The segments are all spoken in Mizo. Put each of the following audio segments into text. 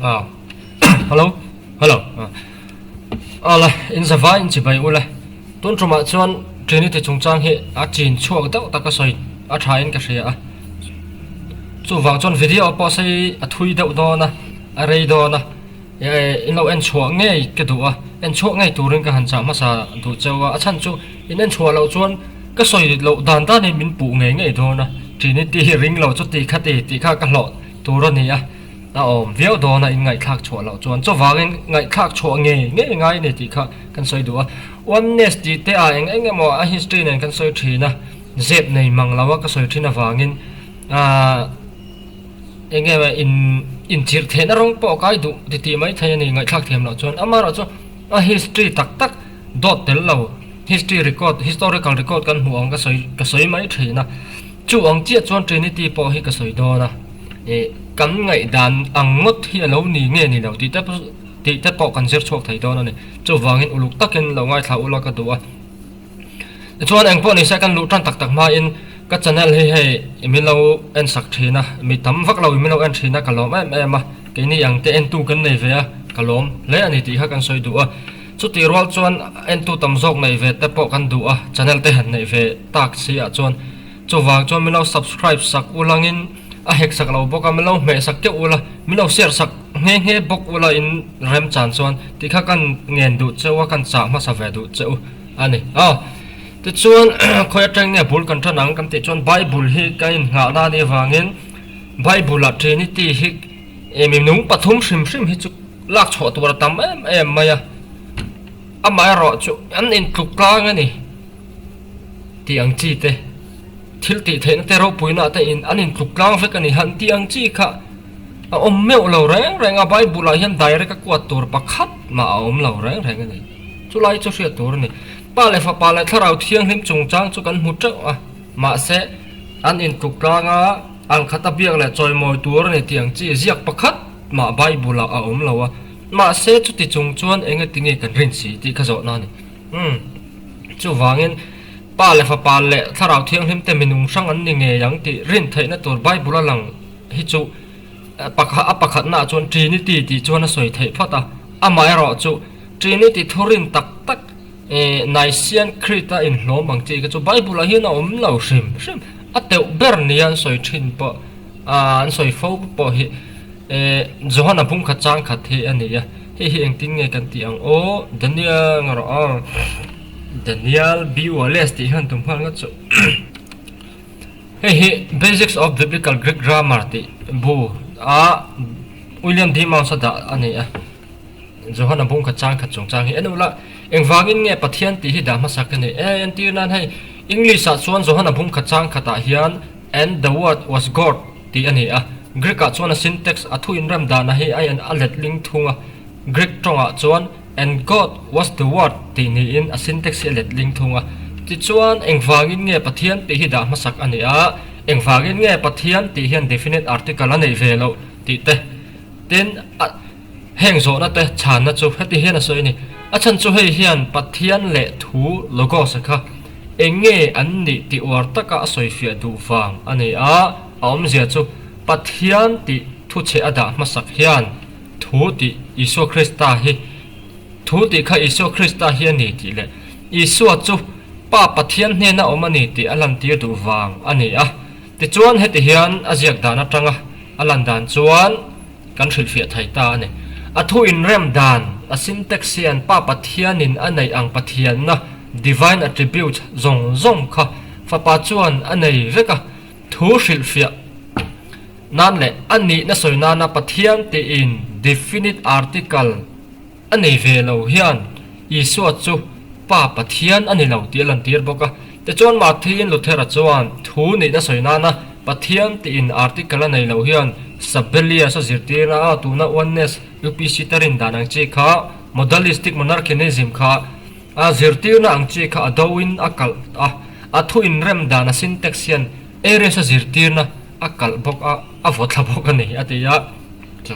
ah hello hello ah ala in zava in chi bai ula tun tuma chuan trinity chung chang hi a chin chhuak deuh taka sawi a tha in ka hria a chuvang chuan video pawh a sawi a thui deuh dawn a a rei dawn a. I lo en chhuah ngei ka duh a, en chhuah ngei turin ka han chah hmasa duh chauh a, a chhan chu in en chhuah loh chuan ka sawi loh dan danin min puh ngei ngei dawn a, Trinity hi ring lo chu tihkhat i tih kha ka hlawh tur a ni a, a awm viau dawn a in ngaihthlak chhuah loh chuan, chuvangin ngaihthlak chhuah ngei ngei ngai a ni tih kha kan sawi duh a, Oneness tih te ah eng eng emaw a history nen kan sawi thin a, zep nei mang lo a ka sawi thin avangin, aa. Enge maw in inchirh theihna rawng pawh a kai duh titi mai thei a ni, ngaihthlak thiam loh chuan amaherawh chu a history tak tak dawt tel lo, history record, historical record kan hmuh ang ka sawi ka sawi mai thin a, chu ang chiah chuan Trinity pawh hi ka sawi dawn a, ih kan ngaih dan ang ngawt hi a lo ni nge ni lo tih te pawh tih te pawh kan zir chhuak thei dawn a ni, chuvangin uluk takin lo ngaithla ula ka duh a. Tichuan, engpawh nise kan luh tan tak tak hmain ka channel hi hei i milo en sak thin a, mi tam vak lo i milo en thin a ka lawm em em a, keini ang te en tu kan nei ve a ka lawm hle a ni tih kha kan sawi duh a, chuti rual chuan en tu tam zawk neih ve te pawh kan duh a, channel te han neih ve tak si ah chuan chuvang chuan milo subscribe sak u langin a hek sak lo bawk a, milo hmeh sak teuh ula, milo share sak nghe nghe bawk ula in. Remchan chuan, Ti kha kan ngen duh che u a, kan chah hmasa ve duh che u a ni. Aw, tichuan khawi atang nge bul kan tan ang? Kan tih chuan Bible hi ka inngah nan i avangin Bible-ah Trinity hi e minung pathum hrim hrim hi chu lak chhuah tur a tam em em mai a, amaherawh chu an intluk tlang a ni tih ang chi te, thil tihtheihna te ropuina te in an intluk tlang vek a ni han tih ang chi kha, A awm meuh lo reng reng a, Bible ah hian direct a kuat tur pakhat mah a awm lo reng reng a ni. Chu lai chu hriat tur a ni. Pa leh Fapa leh Thlarau Thianghlim chungchang chu kan hmu teuh a, mahse, an intluk tlang a, ang khat a biak leh chawimawi tur a ni tih ang chi ziak pakhat mah Bible ah a awm lo a. Mahse, chuti chung chuan eng e ti nge kan rin si tih kha zawhna a ni. Umm. Chuvangin, Pa leh Fapa leh Thlarau Thianghlim te minung hrang an ni ngei ang tih rin theihna tur Bible a lang. Hi chu pakhat a pakhatnaah chuan Trinity tih chuan a sawi theih phawt a, amaherawh chu Trinity thurin tak tak Nicene Creed a inhlawm ang chi kha chu Bible-ah hian a awm lo hrim hrim, a teuh ber nia an sawi thin pawh an sawi fo pawh hi Johana pumkhat chang khat hi a ni a, hei hi engtin nge kan tih ang aw Daniel nge rawh aw Daniel B Wallace tih hian tum nghal ngawt suh. Hei hi Basics of Biblical Greek Grammar tih bu a William D. Mounce a dah a ni a. Johana bungkhat chang khat chungchang hi enu la, engvangin nge Pathian tih hi dah hmasa ka ni? Eng entir nan hei English ah chuan Johana bungkhat chang khat ah hian And the Word was God tih a ni a. Greek ah chuan a syntax, a thuinrem dana hi a en a let lingthung a, Greek tawng ah chuan, And God was the Word tih niin a syntax hi a let ding thung a. Tichuan, engvangin nge Pathian tih hi dah hmasak a nih a? Engvangin nge Pathian tih hian definite article a neih ve loh? tih te. Tin, a heng zawhna te chhanna chu heti hian a sawi a ni, A chhanchu hei hian Pathian leh thu, Logos, a kha eng nge an nih tih uar taka a sawifiah duh vang a ni a, a awmzia chu Pathian tih thuchhe a dah hmasak hian, Thu tih Isua Krista hi Thu tih kha Isua Krista hi a ni tih leh Isua chu Pa Pathian hnena awm a ni tih a lantir duh vang a ni a. Tichuan heti hian a ziak dan atanga a lan dan chuan kan hrilhfiah thei ta a ni. A thu inrem dan, a sintax hian Pa Pathianin a neih ang Pathianna, divine attributes, zawng zawng kha Fapa chuan a nei vek a. Thu hrilhfiah nan leh a nihna sawi nana Pathian tiin definite article a nei ve lo hian Isua chu Pa Pathian a ni lo tih a lantir bawk a. Tichuan Martin Luther-a chuan thu nihna sawi nana Pathian tiin article a nei lo hian Sabellius a zirtirna a, tuna Oneness, UPC, te rindan ang chi kha, Modalistic Monarchianism, kha, A zirtirna ang chi kha a do in a kalh a, a thu inrem dana syntax hian Aries a zirtirna a kalh bawk a, a vaw thla bawk a ni, a ti a. Chu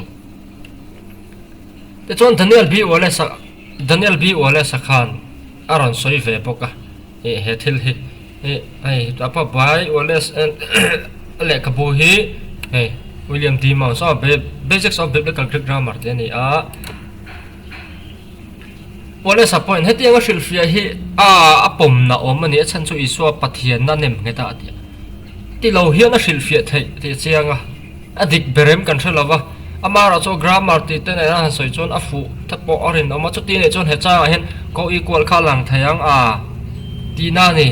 te chuan Daniel B. Wallace a, Daniel B. Wallace a khan a rawn sawi ve bawk a, ih he thil hi ih hei a pa bai Wallace en a lehkhabu hi hei William D. Mouse aw, Basics of Biblical Greek Grammar tih a ni a, Police-a point, Hetianga hrilhfiah hi aa a pawmna awm a ni, a chhan chu Isua Pathianna a nem nghet a, a ti a. Ti lo hian a hrilhfiah theih tih a chiang a, a dik be rem kan hre lo va. A hmara chu grammar tih te nen a han sawi chuan a fuh te pawh a rinawm a, chuti nei chuan hechangah hian ko-equal kha a lang thei ang a, tihna a ni.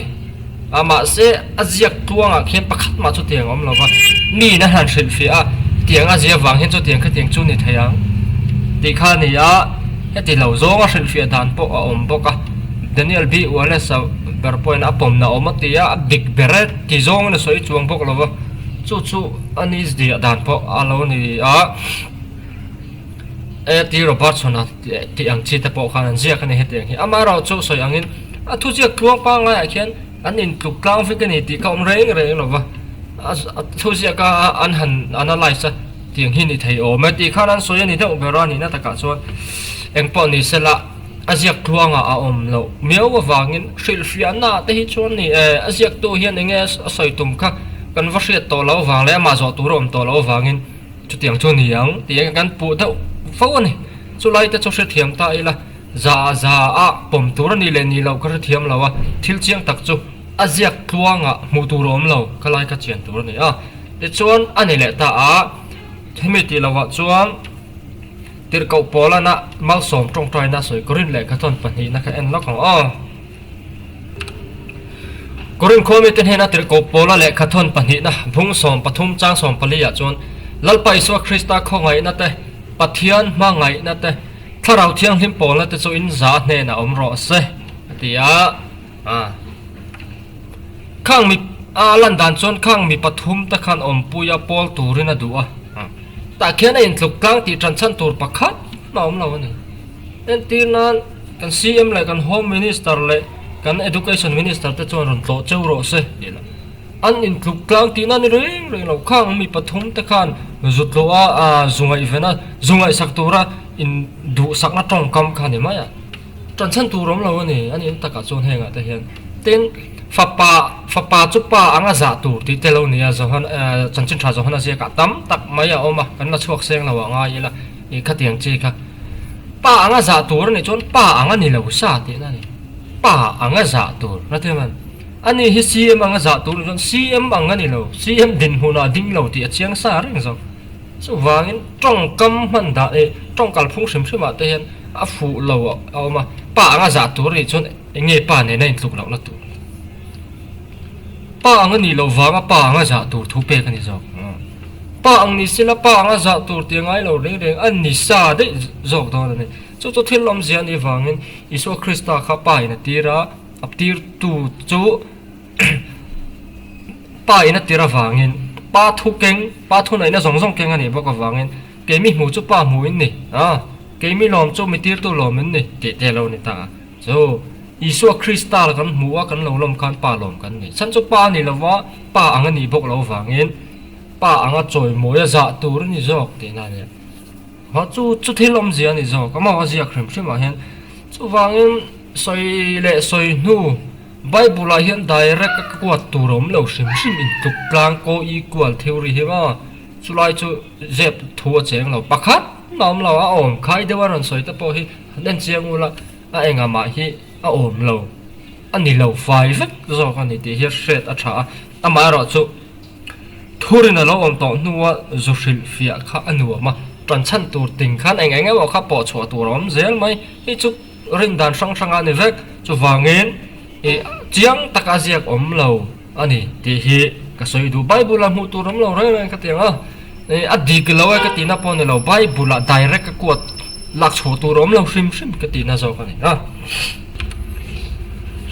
A mahse, a ziak tluangah khian pakhat mah chuti ang a awm lo va, mi in a han hrilh fiah a, tiang a zia vang hian chutiang kha tiang chu ni thei ang tih kha a ni a, heti lo zawnga hrilh fiah dan pawh a awm bawk a, Daniel B. Wallace-a ber pawh hian a pawmna a awm a ti a, a dik ber e ti zawng in a sawi chuang bawk lo va, chu chu a ni zia dan pawh a lo ni a, e ti Robertson-a tih ang chi te pawh khan an ziak a ni hetiang hi, amaherawhchu sawi angin. A thuziak tluang pangngai-ah khian an intluk tlang vek a ni tih ka awm reng reng lo va, a a thuziaka an han analyse a tih ang hi ni thei awm e tih khan an sawi a ni deuh ber a, nihna takah chuan eng pawh ni sela a ziak tluanga a awm loh miau avangin hrilhfiahna te hi chuan ni e, a ziaktu hian enge a sawi tum kha kan va hriat tawh lo avang leh amah zawh tur a awm tawh lo avangin chutiang chu ni ang tih kan puh deuh fo a ni, chulai te chu hrethiam ta ila. Za za a pawm tur a nih leh nih loh ka hre thiam lo a, thil chiang tak chu a ziak tluangah hmuh tur a awm lo, ka lai ka chian tur a ni a. Tichuan a ni leh ta a, hemi tih lohah chuan tirhkoh pawlana malsawm tawngtaina sawi ka rin leh ka tawn pahnihna kha en lawk ang aw. Ka rin khuang mite hnena tirhkoh pawla leh ka tawn pahnihna Bung sawm pathum chang sawm pali ah chuan Lalpa Isua Krista khawngaihna te, Pathian hmangaihna te, Thlarau thianghlim pawla te chu in za hnenah awm rawh a se, a ti a. Khang mi a lan dan chuan khang mi pathum te khan awmpui a pawl turin a duh a. Tah khian a intluk tlang tih tan chhan tur pakhat a awm lo a ni. Entir nan kan CM leh kan Home Minister leh kan Education Minister te chuan rawn tlawh cheu rawh se, tih loh. An intluk tlang tihna ni reng reng lo kha ang mi pathum te khan zutlawh a aa zu ngaihvena zu ngaihsak tura in duhsakna tawngkam kha ni mai a tanchhan tur awm lo a ni. An in takah chuan hengah te hian tin fapa fapa chu pa anga zah tur tih te lo nia Johan aa Chanchinṭha Johan a ziakah tam tak mai a awm a kan la chhuak seng lo ah ngai ila ih khatiang chi kha pa anga zah tur a nih chuan pa anga ni lo sa tihna a ni pa anga zah tur hrethiam an. A nih hi CM anga zah tur ah chuan CM ang a ni lo, CM dinhmun ah ding lo tih a chiang sa reng zawk. Chuvangin tawngkam hman dah leh tawngkal phung hrim hrim ah te hian a fuh lo a awm a. Pa anga zah tur nih chuan engei pa nena intluk loh na tur? Pa ang a nih loh vanga pa anga zah tur thu pek a ni zawk. Pa ang ni sila pa anga zah tur tih a ngai lo reng reng a, a ni sa daih zawk dawn a ni. Chu chu thil awmzia ni vangin Isua Krista kha pa in a tir a, Aptirtu chu pa in a tir avangin pa thu keng pa thu naihna zawng zawng keng a nih bawk avangin keimi hmu chu pa hmu in ni a keimi lawm chu mitirtu lawm in ni tih te alo ni ta a chu Isua Krista la kan hmu a kan lo lawm khan pa lawm kan ni chhan chu pa a ni lo va pa ang a nih bawk lo vangin pa anga chawimawi a zah tur a ni zawk tihna nen. Mah chu chu thil awmzia ni zawk a mau a ziak hrim hrim ah hian. Chuvangin sawi leh sawi hnu Bible ah hian direct a kuat tur a awm lo hrim hrim intluk tlang kaw equal theory hi maw? Chulai chu zep thu a cheng lo pakhat a awm lo a awm khai deuh a rawn sawi te pawh hi en chiang ul a a engah mah hi a awm lo a ni lo fai vek zawk a ni tih hi a hriat a tha a amaherawhchu. Thurin a lo awm tawh hnua zu hrilh fiah kha a nuam a, tan chhan tur ting khan eng eng emaw kha pawh chhuah tur a awm zel mai. Hei chu rin dan hrang hrang a ni vek, chuvangin i chiang taka ziak awm lo a ni tih hi ka sawi duh. Bible-ah hmuh tur awm lo reng reng kha tiang a. Ih a dik lo e ka tihna pawh a ni lo, Bible ah direct a quote lak chhuah tur a awm lo hrim hrim ka tihna zawk a ni a.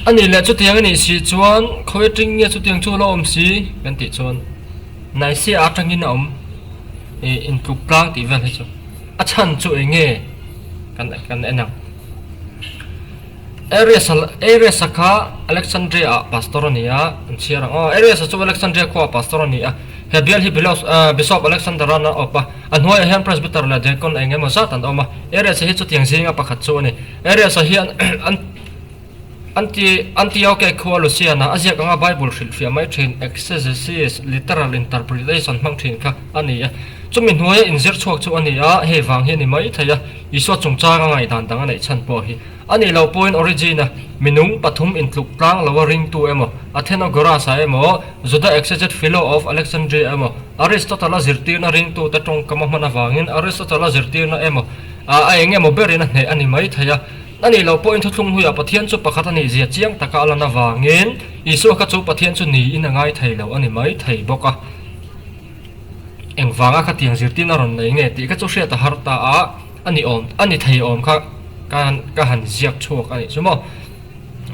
A nih leh chutiang a nih si chuan khaw e ṭing nge chutiang chu la awm si kan tih chuan Naisea aṭangin a awm e intluk tlang tih vel hi chu a chhan chu eng nge kan kan en ang. Ares a Ares a kha Alexandria ah pastor a ni a, an chhiar ang. Aw, Ares a chu Alexandria khua ah pastor a ni a. He bial hi Bilos, ah, Bishop Alexander an awp a. A hnuai ah hian Presbyter leh Deacon eng emaw zat an awm a. Ares hi chutiang zinga pakhat chu a ni. Ares a hian an Anti Antioche khua Lucian ah a ziak anga Bible hrilh hria mai thin, exegesis, literal interpretation, hmang thin kha a ni a. Chumi hnuaia inzir chhuak chu a ni a, hei vang hi a ni maithei a. Isua chungchanga ngaihdan dang a neih chhan pawh hi a nih loh pawhin Origena minung pathum intluk tlang loa ringtu emaw, Athenagoras-a emaw, Juda exeget Philo of Alexandria emaw, Aristotle-a zirtirna ringtute tawngkama hman avangin Aristotle-a zirtirna emaw ah a eng emaw berin a hneh a ni maithei a. A nih loh pawhin Thuthlung Huiah Pathian chu pakhat a nih zia chiang taka a lan avangin Isua kha chu Pathian chu niin a ngai thei loh a ni maithei bawk a. engvanga kha tiang zirtin a rawn nei nge tih kha chu hriat a har ta a, a ni awm a ni thei awm kha kan ka han ziak chhuak a nih chu maw,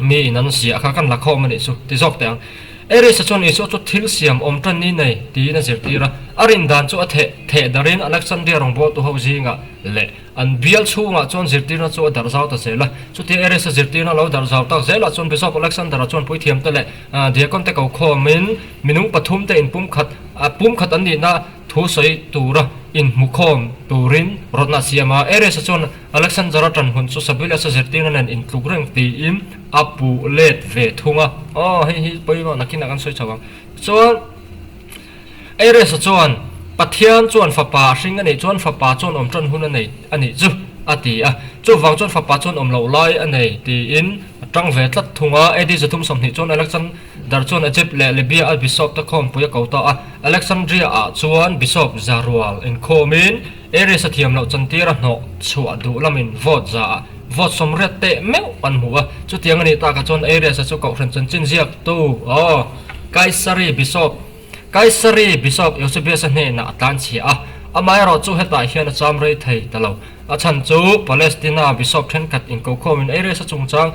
mi in an ziah kha kan la khawm a nih chu ti zawk teh ang. Eris-a chuan Isua chu thil siam awm tan ni nei tiin a zirtir a, a rindan chu a theh theh darin Alexandria rawngbualtu ho zingah leh, An bial chhungah chuan zirtirna chu a darh zau ta zel a. Chutia Eresa zirtirna lo darh zau tak zelah chuan Bishop Alexander-a chuan puithiamte leh diaconte ko khawmin minung pathumte in pumkhat pumkhat an nihna thu sawi tura in hmu khawm turin rawtna a siam a. Eresa chuan Alexander-a tan hun chu Sabuilesa zirtirna nen in tluk reng tiin a puh let ve thung a. Aw, hei hi pawimawhna khinah kan sawi chho ang. Chuan. Eiresa chuan, Pathian chuan fapa a hring a nih chuan fapa chuan awm ṭan hun a nei a nih chu, a ti a. Chuvang chuan fapa chuan awm loh lai a nei, tiin a ṭang ve tlat thung a. AD zathum sawmhnih chuan Alexander chuan Egypt leh Libya a bishop te khawmpui a ko ta a. Alexandria-ah chuan bishop zia rual inkhawmin, Aries-a thiam loh chantir a hnawh chhuah duh lamin vote za ah vote sawm riat teh meuh kan hmu a, chutiang a nih tak ah chuan Aries-a chu Kohhran chanchin ziak tu aw Kaisari Bishop Kaisari Bishop Eusebius-a hnenah a tlanchhia a, amah erawh chu hetah hian a cham rei thei ta lo. A chhan chu Palestina Bishop thenkhat inkokhawmin Aries-a chungchang.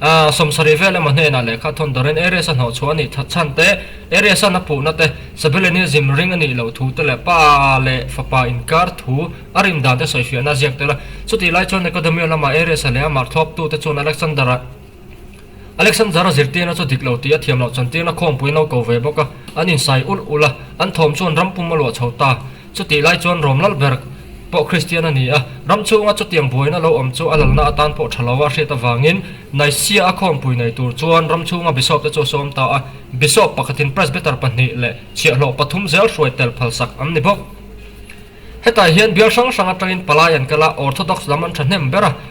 A sawmsarih vel emaw hnenah lehkha thawn darin Aries-a hnawhchhuah a nih that chhan te, Aries-a na puhna te, Sabeleni zim ring a nih loh thu te leh pa leh fapa inkar thu a rin dan te sawi fiahna a ziak tel a. Chutih lai chuan Academia lamah Aries-a leh a mak thlawptu te chuan Alexander-a Alexander-a zirtirna chu dik lo tih a thiam loh chantirna khawngpuia no ko ve bawk a, an insai ulh ulh a, an thawm chuan rampum a luah chho ta. Chutih lai chuan rawm lal ber pawh Kristian a ni a, ram chhunga chutiang buaina lo awm chu a lalna atan pawh tha lo a hriat avangin Nicaea a khawmpui nei tur chuan ram chhunga Bishop te chu a sawm ta a, Bishop pakhatin Presbyter pahnih leh chhiahhlawh pathum zel hruai tel phal sak an ni bawk. Hetah hian bial hrang hrang atangin palai an kal a, Orthodox lam an tha hnem ber a,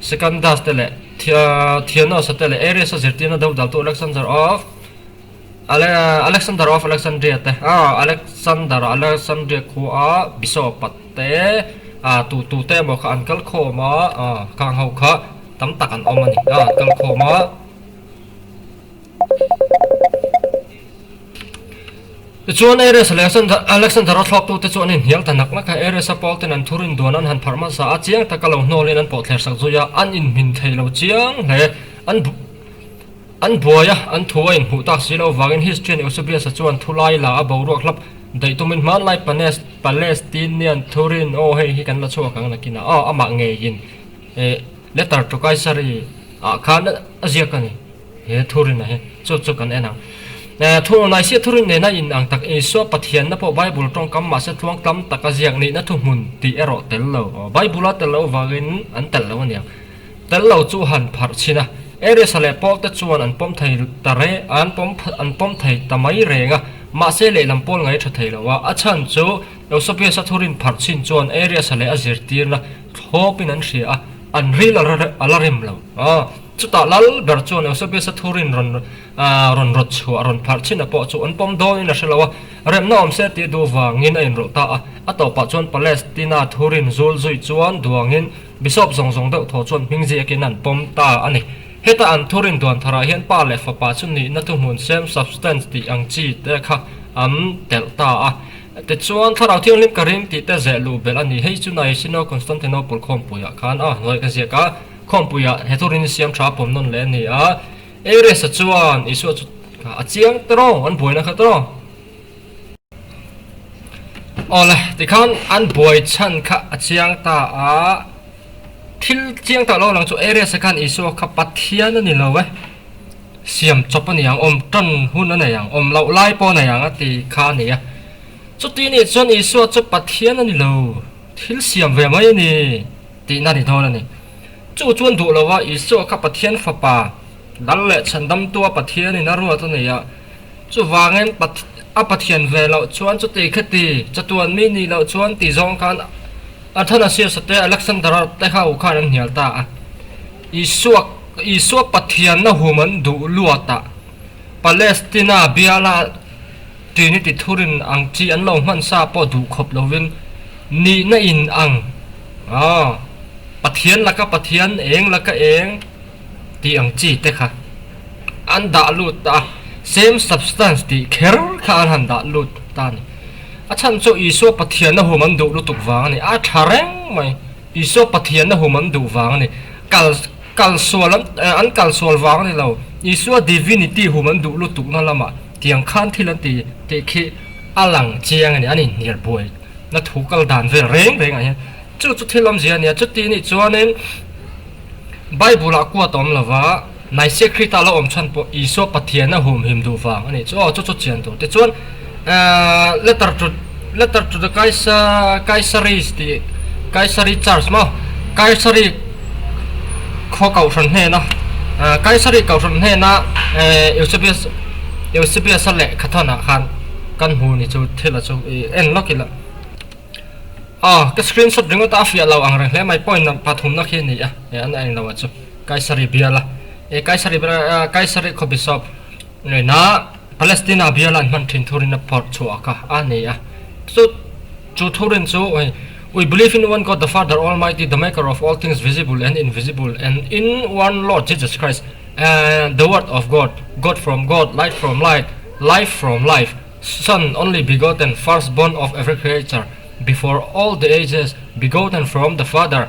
Sekandas te leh Thianos-a te leh Aries-a zirtirna deuh daltu Alexander of Alexander of Alexandria te Alexander a Alexandria khua a Bishop-a te tu tu te emaw kha an kal khawm a, kang ho kha tam tak an awm a ni, an kal khawm a. Tichuan, Ares leh Alexander-a thlawptute chu an inhnial ta nak nak a. Ares-a Paul-ten an thu rinduan an han pharh hmasa a, chiang taka lo hnawlin an pawh thler sak zui a, an inhmin thei lo chiang hle. An an buai a, an thu a inhmuh tak si lo vangin history-an Eusebius-a chuan thulai la a boruak hlap daih tumin hmanlai Palestinian thu rin aw hei hi kan la chhuak ang nakin a, aw amah ngeiin. He letter chu Kaisari ah khan a ziak a ni, he thurina hi chu chu kan en ang. Thunglawm naihsia thurin nena in ang tak Isua Pathianna pawh Bible tawngkam mahse tluang tam taka ziak nihna thuhmun tih erawh tel lo, Bible a tel lo vangin an tel lo a nia. Tel lo chu han pharh chhin a, Aries-a leh Paul te chuan an pawm thei ta re, an pawm an pawm thei ta mai reng a, mahse lehlam pawl ngai tha thei lo a, a chhan chu Eusebius-a thurin pharh chhin chuan Aries-a leh a zirtirna Thlawpin an hria a, an ril a la rem lo. Chutah lal ber chuan Eusebius-a thu rinrawn rawn rawt chhuah, rawn pharh chinah pawh chu an pawm dawngin a hre lo a, remna awm se tih duh vangin a inrawlh ta a. A tawpah chuan Palestina thu rin zul zui chuan duangin Bishop zawng zawng deuh tho chuan hming ziakin an pawm ta a ni. Heta an thu rin duan tharah hian Pa leh Fapa chu nihna thuhmun sem, substance, tih ang chi te kha an telh ta a. Tichuan, Thlarau Thianghlim ka ring tih te zeh luh belh a ni. Hei chu nai Sino Constantinople khawmpuiah khan a hnuai ka ziak a, khawmpuiah he thur in siam tha pawm nawn leh a ni a. Aries-a chuan Isua chu a chiang ta raw, an buaina kha ta raw. Awle, tikhan an buai chhan kha a chiang ta a, thil chiang ta lo lang chu Aries-a khan Isua kha Pathian a ni lo e. Siam chawp a ni ang awm tan hun a nei ang awm loh lai pawh a nei ang a ti kha a ni a. Chuti nih chuan Isua chu Pathian a ni lo, thil siam ve mai a ni tihna a ni dawn a ni. Chu chuan duh lo va, Isua kha Pathian Fapa, Dal leh Chhandamtua Pathianin a ruat a ni a. Chuvangin, a Pathian ve loh chuan chuti kha ti, chatuanmi nih loh chuan ti zawng khan Athanasius-a te Alexander-a te kha u khan an hnial ta a. Isua Isua Pathianna hum an duh luatah Palestina biala Trinity thurin ang chi an lo hmansa pawh duh khawp lovin nihna in ang aw Pathian laka Pathian eng laka eng tih ang chi te kha an dah lut ta a, same substance tih kher kha an han dah lut ta a ni. A chhan chu Isua Pathianna hum an duh lutuk vang a ni a tha reng mai. Isua Pathian a hum an duh vang a ni. Kal kal sual an an kal sual vang a ni lo. Isua Divinity hum an duh lutukna lamah tiang khan thil an ti tih khi a lang chiang a ni, an inhnial buai na thu kal dan vel reng rengah hian. Chu chu thil awmzia a nia. Chutinih chuanin Bible-ah kuat a awm lova. Mahse Khrita lo awm chhan pawh Isua Pathiana humhim duh vang a nih chu aw chu chu chian tur te chuan eeh letter chu letter chu chu Kaisa Kaisaris ti Kaisari church maw Kaisari khaw Kauhran hnena eeh Kaisari Kauhran hnena eeh Eusebius Eusebius a leh khathan ah khan kan hmu ni chu thil a chu i en lawk ila aw ka screenshot ringawt a a fiah lo ang reng hle mai point pathum na khi a ni a eeh an a eng lo a chu. Kaisari biala e Kaisari biala Kaisari khaw Bishop ngaina Palestina biala an hman thin thur in a phawrh chhuak a a ni a chu chu thur in chu ui We believe in one God the Father Almighty the maker of all things visible and invisible and in one Lord Jesus Christ and the word of God God from God light from light life from life son only begotten first born of every creature before all the ages begotten from the Father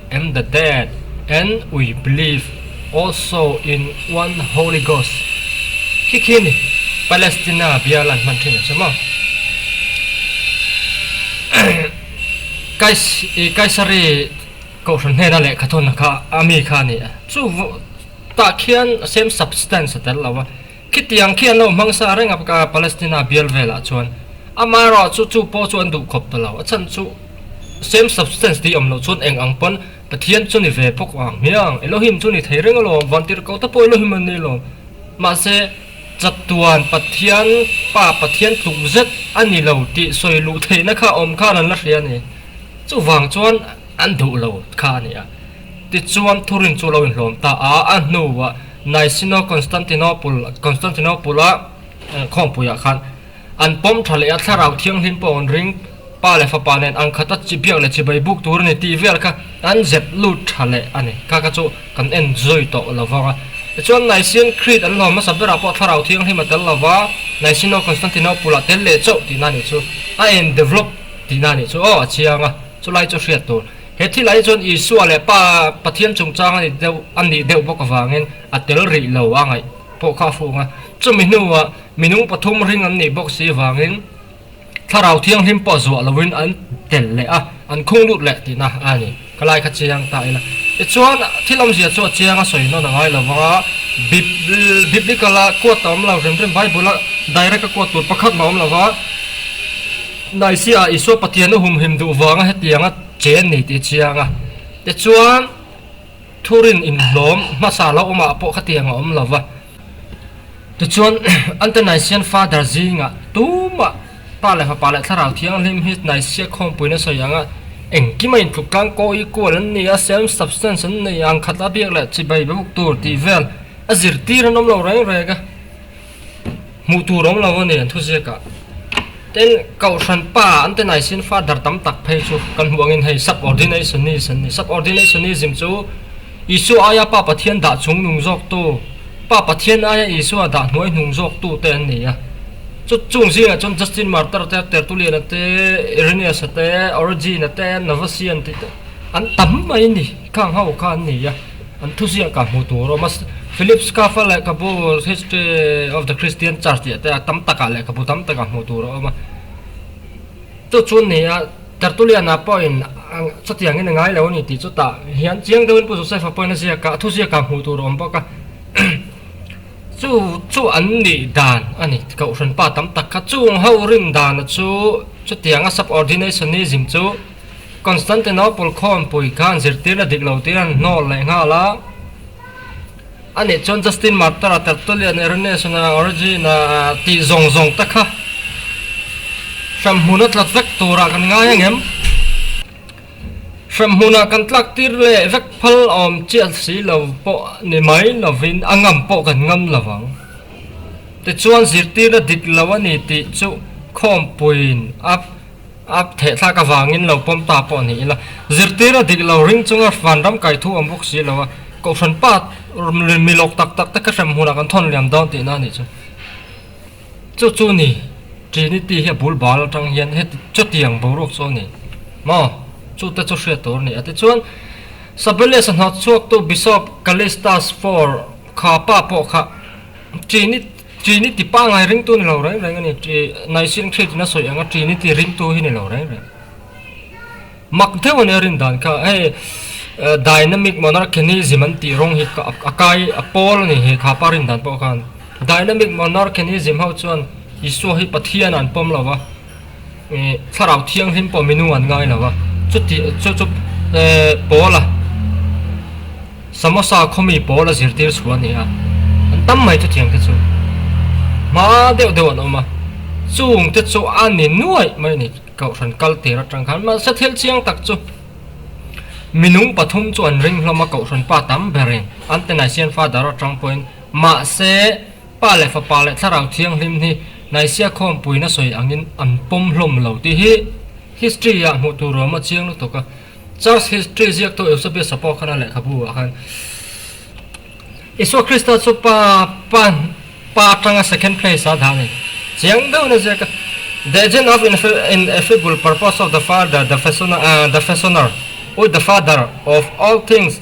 and the dead and we believe also in one holy ghost khi khi ni palestina bial an hman thin a che maw kais i kaisari kohhran hnena lehkha thawnna kha ami kha a ni a chu vawh tah khian same substance a tel lo a Khitiang khi an lo hmang sa reng a, Palestina bial velah chuan ama erawh chu chu pawh chu an duh khawp ta lo, a chhan chu same substance tih awm loh chuan eng ang pawn Pathian chu ni ve phawk ang hmiang, Elohim chu ni thei reng alawm, van tirhko te pawh Elohim an nih lawm, mahse chatuan Pathian pa Pathian tluk zet a ni lo tih sawi luh theihna kha awm khan an la hria ni, chuvang chuan an duh lo kha a ni a, tichuan thurin chu lo inhlawm ta a, a hnuah Naisino Constantinople, Constantinople, a khawngpuiah khan an pawm tha leh a thlarau thianghlim pawh an ring. Pa leh fapa nen ang khat a chi biak leh chi bei buk tur a ni tih vel kha an zep lut tha leh a ni. Kha kha chu kan en zawi tawh lo vang a. Tichuan Nicene Creed an lawm hmasa berah pawh thlarau thianghlim a tel lo va, Naisino Constantinople a tel leh chauh tihna nih chu, a en develop tihna nih chu aw a chiang a, chulai chu hriat tur. He thil ai chuan Isua leh Pa Pathian chungchang a ni deuh a nih deuh bawk avangin a tel rih lo a ngaih pawh kha a fung a. Chumi hnuah minung pathum ring an nih bawk si avangin Thlarau Thianghlim pawh zuah loin an tel leh a, an khung lut leh tina a ni. Ka lai kha chiang ta ila. Tichuan, thil awmzia chu a chiang a sawi nawn a ngai lo vang a, Biblical-a quote ta awm lo rem rem, Bible-a direct a quote tur pakhat maw a awm lo va, Naiziah Isua Pathian a humhim duh vanga hetiang a che an ni tih a chiang a. Tichuan, thurin inhlawm hmasa lo awmah pawh khatiang a awm lo va. Tichuan, Antanaizian Father zingah tumah Pa leh Fapa leh Thlarau Thianghlim hi Naizia khawmpuina sawi anga engkima intluk tlang kaw i kual an ni a, self substance an nei ang, khat a biak leh chibai buk tur tih vel a zirtir an awm lo reng reng a. Hmuh tur awm lo a ni, an thu ziak ah. Tin, Kohhran pa an ti nai sin Father tam tak phei chu kan hmuh angin hei Subordinationist an ni. Subordinationism chu Isua aia pa Pathian dah chung nung zawktu, pa Pathian aia Isua dah hnuai hnung zawktu te an ni a. Chu chung zingah chuan Justin Martyr te, Tertullian-a te, Irenaeus-a te, Origen-a te, Novatian tih te an tam mai a ni. Khang ho kha an ni a, an thu ziah kah hmuh tur a awm a. Philip Schafer lehkhabu History of the Christian Church tih te a tam takah lehkhabu tam takah hmuh tur a awm a. Chu chu ni a, Tertullian-a pawhin chutiangin a ngai lo a ni tih chutah hian chiang deuhin Pu Joseph-a pawhin a ziak a, a thu ziak kah hmuh tur a awm bawk a. Chu chu an nih dan a ni, Kohhran pa tam tak kha. Chung ho rin dana chu chutianga Subordinationism chu. Constantinople khawnpui khan zirtirna dik lo tiin an hnawl leh nghal a, a nih chuan Justin Martyr-a, Tertullian-a, Irenaeus-a, Origen-a tih zawng zawng te kha hremhmun a tlat vek turah kan ngai angem? Hremhmunah kan tlaktir leh vek phal a awm chiah si lo pawh ni mai lovin a ngam pawh kan ngam lo ang. Tichuan, zirtirna dik lo a ni tih chu khawnpuiin a. A thehthlak avangin lo pawm ta pawh ni ila, zirtir a dik lo ring chunga vanram kai thu a awm bawk si lo a, Kohhran pa mi lawk tak tak te kha hrem hunah kan thawn liam dawn tihna a nih chu. Chu chu ni, Trinity hi a bul bal atang hian heti chutiang boruak chu a ni maw? Chu te chu hriat tur a ni. A tichuan, Sabellius-a hnawt chhuaktu Bishop Callistus Four kha pa pawh kha Trinity, Trinity pangngai ringtu ni lo reng reng a ni. Nicene Creed in a sawi ang a, Trinity ringtu hi ni lo reng reng. Mak deuh a nia rin dan kha. Hei Dynamic Monarchianism an tih rawng hi a kai, a pawl a ni he khapa rin dan pawh khan. Dynamic Monarchianism ho chuan Isua hi Pathian a an pawm lo a. Thlarau thianghlim pawh minung an ngai lo a, chuti chu chu Paula samosa khawmi pawl a zirtir chhuah a ni a, an tam mai chutiang te chu hma deuh deuh an awm a, chung te chu a ni nuaih mai a ni, Kohhran kal tir atang khan, mahse thil chiang tak chu minung pathum chu an ring hlawm a, Kohhran pa tam berin an te nai sian father atang pawhin mahse, Pa leh fapa leh thlarau thianghlim hi naisia khawmpuina sawi angin an pawm hlawm lo tih hi history-ah hmuh tur awm a chiang lutuk a. Church history ziaktu Eusebius Sapokhana lehkhabuah khan Isua Krista chu pa pa pa atanga second place a dan in chiang deuhin a ziak a, The agent of ineffable purpose of the Father, the fashioner, the fashioner, ui, the father, of all things.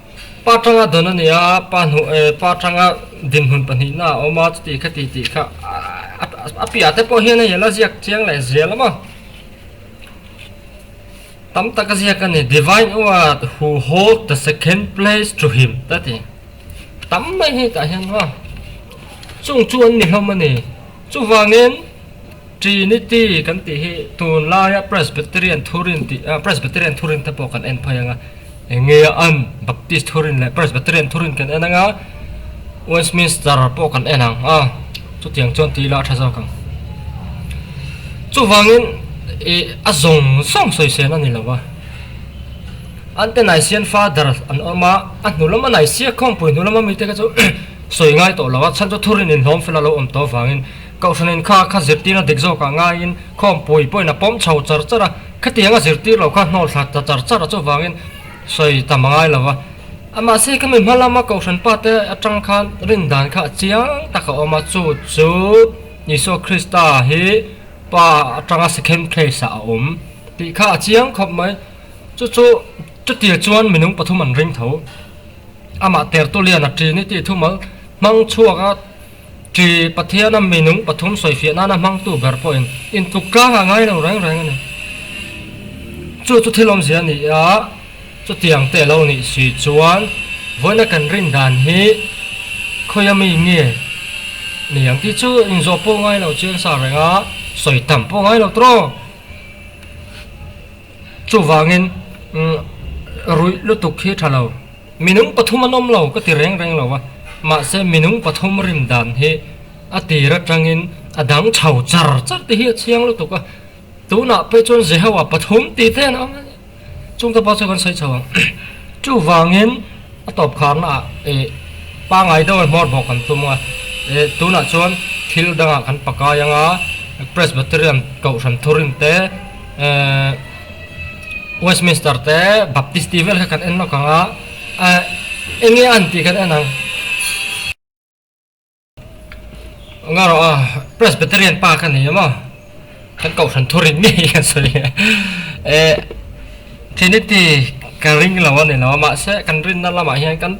Pa Tanga dawn a ni a, pa hnu eh pa Tanga dinhmun pahnihna a awm a, chutih kha tih tih kha a piah te pawh hian hei ala ziak chiang leh zia lawm a, tam tak a ziak a ni, Divine Award who hold the second place to him ta ti tam mai heta hian hawh a, chung chu an ni hlawm a ni, chuvangin Trinity kan tih hi tunlaia Presbyterian thurin tih a, Presbyterian thurin te pawh kan en phai ang a, enge a an, Baptist thurin leh Presbyterian thurin kan en ang a, Westminster pawh kan en ang a, chutiang chuan ti ila a tha zawk ang. Chuvangin ih a zawng zawng sawisên a ni lo va. An te Nicene Father an awm a, a hnu lama Nicaea khawngpui hnu lama mite kha chu sawi ngai tawh lo a, chhan chu thurin inhlawm fel a lo awm tawh avangin, Kohhran in kha kha zirtirna dik zawk ah ngaiin khawmpui pawhin a pawm chho char char a, khatianga zirtir lo kha hnawl thla ta char char a chuvangin sawi ta hma ngai lo va. A mahse ka mi hmalam a Kohhran pa te atang khan rin dan kha a chiang tak a awm a, chu chu Isua Krista hi pa atanga second place ah a awm tih kha a chiang khawp mai. Chu chu chutia chuan minung pathum an ring tho, amah tertulian a ṭin i tih thumal hmang chhuak a, Khi Pathiana minung pathum sawifiah nana hmangtu ber pawhin intluk tlangah ngai lo reng reng a ni. Chu chu thil awmzia ni a, chutiang te lo nih si chuan vawiina kan rin dan hi khawi a mi nge ni ang tih chu inzawh pawh ngai lo chiang sa reng a, sawi tam pawh ngai lo trawng. Chuvangin ruih lutuk hi tha lo. Minung pathum an awm lo ka ti reng reng lo a, mahse minung pathum rim dan hi a tir atangin a dang tho char char te hi a chiang lutuk a, tunah pawh chuan Jehova pathum ti te an awm a ni. Chungte pawh chu kan sawi chho ang. Chuvangin a tawpkharnaah ih pangngai deuh a hmawr bawk kan tum a, ih tunah chuan thil dangah kan pakai anga, Presbyterian kohhran thurim te, eh, Westminster te Baptist tih vel kha kan en lawk ang a, ah eng nge an tih kan en ang. Nga rawh a, Presbyterian pa ka ni emaw? Kan kohhran thu rin ngei kan sawi a, eh Trinity ka ring lo a ni lo a, mahse kan rinna lamah hian kan,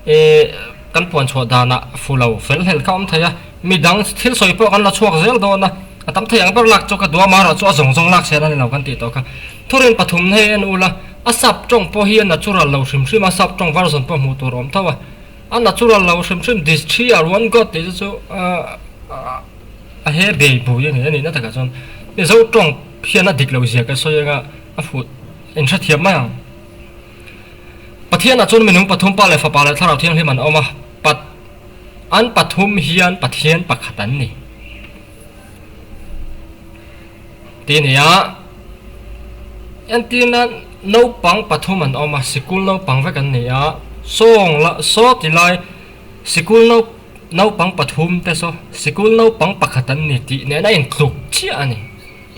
E, kan puan chhuah danah fulo fel hnel kha awm thei a, midang thil sawi pawh kan la chhuak zel dawn a, a tam thei ang ber lak chu ka duh a, mah erawh chu a zawng zawng lak sil a ni lo kan tih tawh kha. Thurin pathum hei en ula, a sap tawng pawh hi a natural lo hrim hrim a, sap tawng version pawh hmuh tur a awm tho a, a natural lo hrim hrim dis thi a ruan gawt tih te chu a he bei bui a ni, a nihna takah chuan Mizo tawng hian a dik lo ziah ka sawi anga a fuh in hrethiam mai ang. Pathianah chuan minung pathum pa leh fapa leh thlarau thianghlim an awm a, pat an pathum hian Pathian pakhat an ni. Ti ni a, entirna naupang pathum an awm a, sikul naupang vek an ni a, sawng la saw ti lai sikul nau naupang pathum te saw sikul naupang pakhat an ni tih nen a intluk chiah a ni.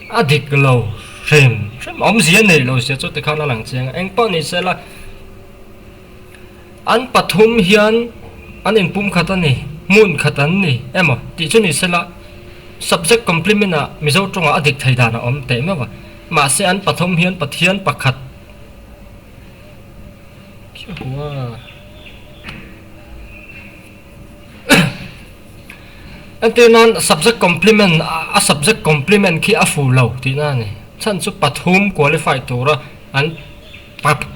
A dik lo hrem hrem awm zia neih lo sia chu tikhan a lang chiang a, eng pawh ni sela an pathum hian an in pum khat a ni, hmun khat an ni emaw tih chu ni sela subject complement ah Mizo tawngah a dik thei dan a awm teh meuh a, mahse an pathum hian Pathian pakhat Ka hmu a. Enti nan subject complement a subject complement khi a fuh lo tih nan a ni. Chhan chu pathum qualify tura an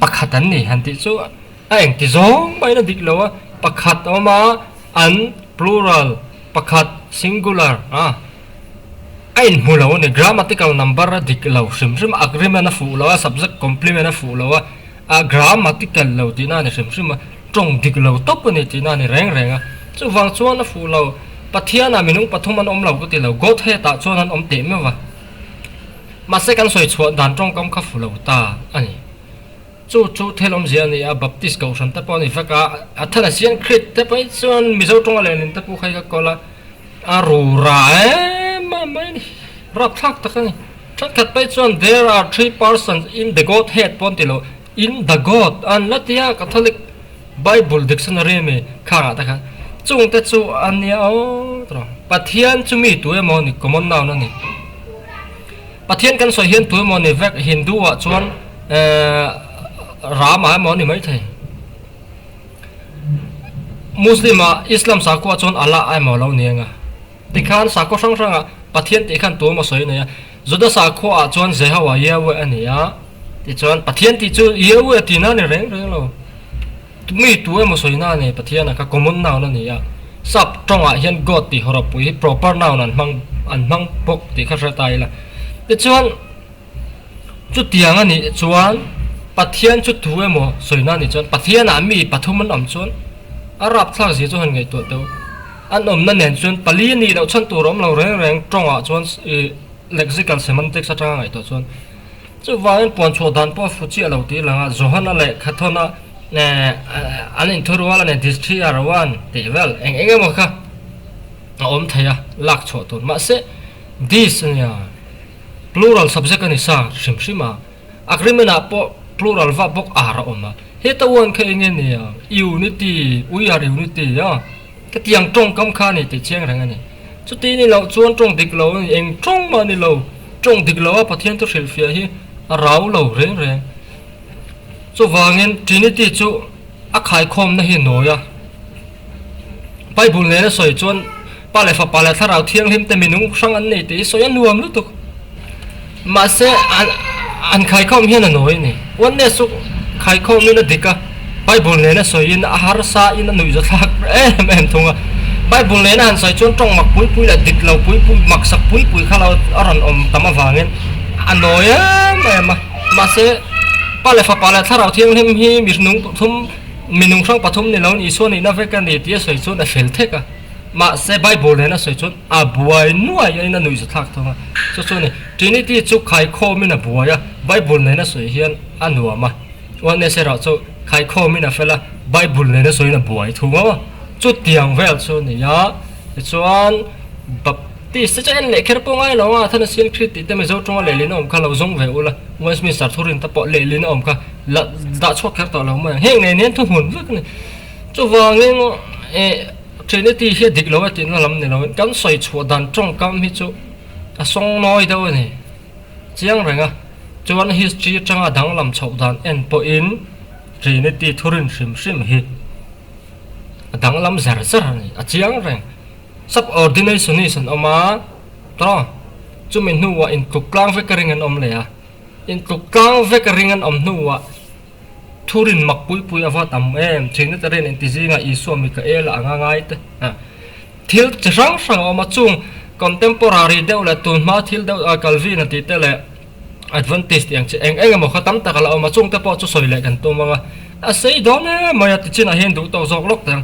pakhat an ni han tih chu a engti zawng maiin a dik lo a, pakhat a awm a an plural pakhat singular a a inhmu lo a ni, grammatical number a dik lo hrim hrim a agreement a fuh lo a subject complement a fuh lo a. a grammatical lo tihna a ni hrim hrim a, tawng dik lo tawp a ni tihna a ni reng reng a. Chuvang chuan a fuh lo, Pathianah minung pathum an awm lo ka ti lo, Godhead-ah chuan an awm teh meuh a, mahse kan sawi chhuah dan tawngkam kha fuh lo ta a ni. Chu chu thel awmzia a ni a, Baptist kohhran te pawh a ni vek a, a then a sian Khrite pawh hi chuan Mizo tawng a lenin te pawh kha i ka kawl a, A rura em em mai a ni. Rapthlak tak a ni. Thenkhat phei chuan There are three persons in the Godhead pawh an ti lo. In the God an la ti a, Catholic Bible Dictionary a mi khangah te khan. Chung te chu a nia aw ta rawh. Pathian chu mi tu emaw ni, common noun a ni. Pathian kan sawi hian tu emaw ni vek, Hindu-ah chuan ehh Rama emaw a ni maithei. Muslima Islam sakuah chuan Allah a emaw lo ni anga? Tikhan sakua hrang hrangah Pathian tih khan tum a sawi nei a. Juda sakuaah chuan Jehovah, Yahweh, a ni a. Tichuan, Pathian tih chu Yahweh ti na a ni reng reng lo. Tumi tu emaw sawi na a nei, Pathian a kha common noun a ni a. Sub tawngah hian God tih hawrawpui hi proper noun an hmang an hmang bawk tih kha hre ta ila. Tichuan. Chutiang a nih chuan Pathian chu thu emaw sawi na a nih chuan Pathianah mi pathum an awm chuan a rapthlak zir chu han ngaihtuah teuh. An awmna nen chuan pali a nih loh chhan tur a awm lo reng reng tawngah chuan lexical semantics atanga a ngaihtuah chuan chuvangin puan chhuah dan pawh a fu chiah lo tih a lang a, Johana leh Khathona an inthurual a ni Disthiar one tih vel eng eng emaw kha a awm thei a lak chhuah tur mahse Dis a nia. Plural subject a ni sa hrim hrim a. Agreement ah pawh plural verb bawk are a awm a. Heta uan kha enge nia? Unity, we are unity a ka ti ang tawngkam kha a ni tih chiang reng a ni. Chuti ni loh chuan tawng dik lo a ni, eng tawng mah ni lo. Tawng dik lo a Pathian thu hrilhfiah hi a rau lo reng reng. Chuvangin Trinity chu. A khaikhawmna hi a nawi a. Bible nen a sawi chuan Pa leh Fapa leh Thlarau Thianghlimte minung hrang an nei tih hi sawi a nuam lutuk. Mahse, an khaikhawm hian a nawi a ni. Oneness chu khaikhawmin a dik a, Bible nen a sawiin, a harsain, a nuihzathlak em em thung a. Bible nen a han sawi chuan tawng mak pui pui leh dik lo pui pui, maksak pui pui kha lo a rawn awm tam avangin a nawi em em a. Mahse, Pa leh Fapa leh Thlarau Thianghlim hi mi hnung pathum, mi nunghrang pathum ni loin Isua nihna vek a ni tia sawi chuan a hrel thek a. Mahse, Bible nena sawi chuan a buai nuaiin a nuih zathlak thung a. Chu chu ni, Trinity chu khaikhawmin a buai a, Bible nena sawi hian a nuam a. Oneness erawh chu khaikhawmin a fel a, Bible nena sawiin a buai thung a. Chutiang vel chu a ni a. Tichuan, Tih se che en leh kher pawh ngai lo a, Thana Sian Krit tih te Mizo ṭawng a lehlin a awm kha lo zawng ve ula, Westminster thu rin te pawh lehlin a awm kha la dah chhuak kher tawh lo mai ang, heng nei nen thu hmun vek a ni. Chuvangin, eh, Trinity hi a dik lo a tih na lam ni loin kan sawi chhuah dan ṭawngkam hi chu a sawng nawi deuh a ni. Chiang reng a, chuan history aṭanga danglam chhoh dan en pawhin Trinity thu rin hrim hrim hi a danglam zer zer a ni, a chiang reng. Subordination is an awm a, tawh chumi hnuah intluk tlang vek a ring an awm leh a, intluk tlang vek a ring an awm hnuah thurinmak pui pui a va tam em, Trinitarian intizinga Isua mi ka el a ang a ngai te a, thil chi hrang hrang a awm a, chung Contemporary deuh leh tunhma thil deuh a Calvin-a tihte leh, advantage tih ang che eng eng emaw khaw tam tak a la awm a chungte pawh chu sawi leh kan tum ang a a sei dawn emai a ti chinah hian duh tawh zawk lawk te ang.